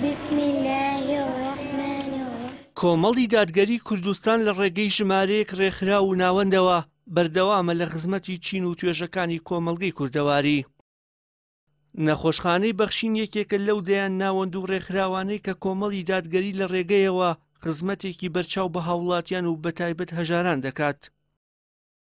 بسم اللە الرحمن الرحیم. کۆمەڵی دادگەری کوردستان لە ڕێگەی ژمارەیەک ڕێکخراو و ناوەندەوە بەردەوامە لە خزمەتی چین و توێژەکانی کۆمەڵگەی کوردەواری. نەخۆشخانەی بەخشین یەکێکە لەو دەیان ناوەند و ڕێکخراوانەی کە کۆمەڵی دادگەری لە ڕێگەیەوە خزمەتێکی بەرچاو بە هاوڵاتیان و بەتایبەت هەژاران دەکات.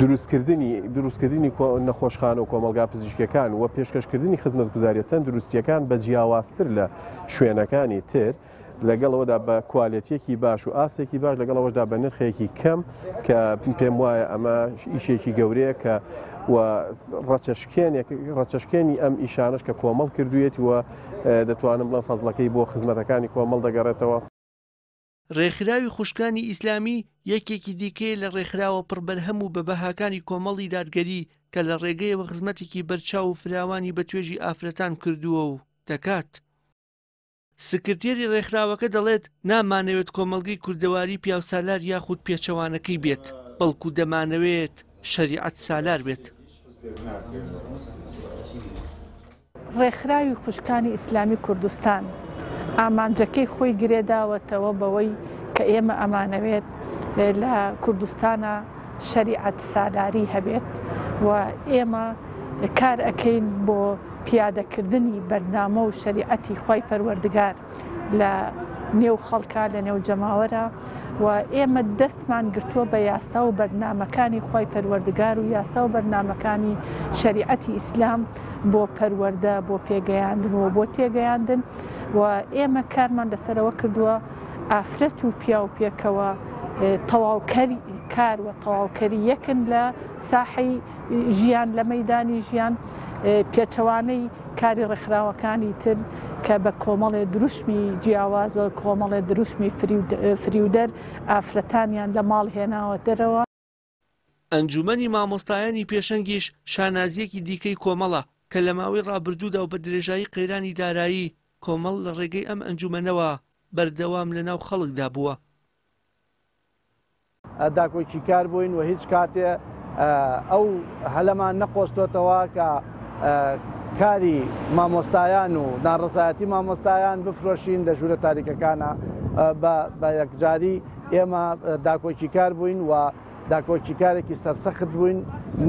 دروستکردنی دروستکردنی نەخۆشخانە و کۆمەلگا پزیشکەکان و پێشکەشکردنی خزمەت گوزاریە تەن دروستیەکان بە جیاوازتر لە شوێنەکانی تر لەگەڵەوەدا بە کوالەتیەکی باش و ئاسێکی باش لەگەڵەوەشدا بە نرخێکی کەم کە پێم وایە ئەمە ئیشێکی گەورەیە کە و ڕچەشکێنێک ڕچەشکێنی ئەم ئیشانش کە کۆمەڵ کردوێت و دەتوانم بڵم فەزلەکەی بۆ خزمەتەکانی کۆمەڵ دەگەڕێتەوە ڕێکخراوی خوشکانی ئیسلامی یەکێکی دیکەیە لە ڕێکخراوە پڕبەرهەم و بە بەهاکانی کۆمەڵی دادگەری کە لە ڕێگەیەوە خزمەتێکی بەرچاو و فراوانی بە توێژی ئافرەتان کردووە و دەکات. سکرتێری ڕێکخراوەکە دەڵێت، نامانەوێت کۆمەڵگەی کوردەواری پیاوسالار یاخود پێچەوانەکەی بێت، بەڵکو دەمانەوێت شەریعەت سالار بێت. ڕێکخراوی خوشکانی ئیسلامی کوردستان ئامانجەکەی خۆی گرێداوەتەوە بەوەی کە ئێمە ئەمانەوێت لە کوردستانا شەریعەت سالاری هەبێت و ئێمە کار ئەکەین بۆ پیادەکردنی بەرنامە و شەریعەتی خوای پەروەردگار. لە نێو خەڵکە لە نێو جەماوەرە و ئێمە دەستمان گرتووە بە یاسا و بەرنمەکانی خی پەروەردگار و یاسا و بەرنمەکانی شریعەتی ئیسلام بۆ پەروەەردە بۆ پێگەیاندن و بۆ تێگەیاندن و ئێمە کارمان لەسەرەوە کردووە ئافرەت و پیاو پێکەوە تەواوکەری کار و تەواوکەری یەکن لە ساحی ژیان لە مەیدانی ژیان پێچەوانەی کاری ڕێکخراوەکانی تر کە بە کۆمەڵێ دروشمی جیاواز و کۆمەڵێ دروشمی فریودەر ئافرەتانیان لە ماڵ هێناوە دەرەوە ئەنجومەنی مامۆستایانی پێشەنگیش شانازیەکی دیکەی کۆمەڵە کە لە ماوەی ڕابردوودا و بە درێژایی قەیرانی دارایی کۆمەڵ لە ڕێگەی ئەم ئەنجومەنەوە بەردەوام لە ناو خەڵکدا بووە. داکۆکیکار بووین و هیچ کاتێ ئەو هەلەمان نەقۆستۆتەوە کە کاری مامۆستایان و ناڕزایەتی مامۆستایان بفرۆشین لە ژوورە تاریکەکانە بە یەکجاری ئێمە داکۆکیکار بووین و داکۆکیکارێکی سەرسەخت بووین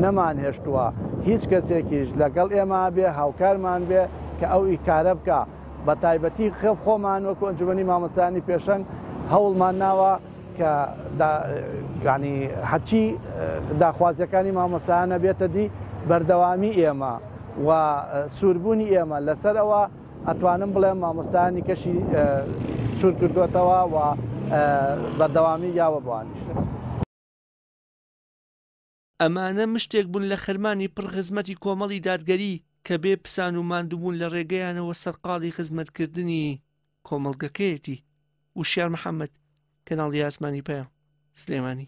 نەمان هێشتووە هیچ کەسێکیش لەگەڵ ئێمە بێ هاوکارمان بێ کە ئەو ئیکارە بکە بە تایبەتی خێڵ خۆمان وەکو ئەنجومی مامەسانی پێشەنگ هەوڵمان ناوە کە دا یانی هەرچی داخوازیەکانی مامۆستایانە بێتە دی بەردەوامی ئێمە و سووربوونی ئێمە لەسەر ئەوە ئەتوانم بڵێم مامۆستایانی کەشی سوور کردوێتەوە و بەردەوامی یاوە بوانیش. ئەمانە مشتێک بوون لە خەرمانی پڕ خزمەتی کۆمەڵی دادگەری کە بێ پسان و ماندووبوون لە ڕێگەیانەوە سەرقاڵی خزمەتکردنی کۆمەڵگەکەیەتی. وشیار محەمەد، کەناڵی ئاسمانی پەیام، سلێمانی.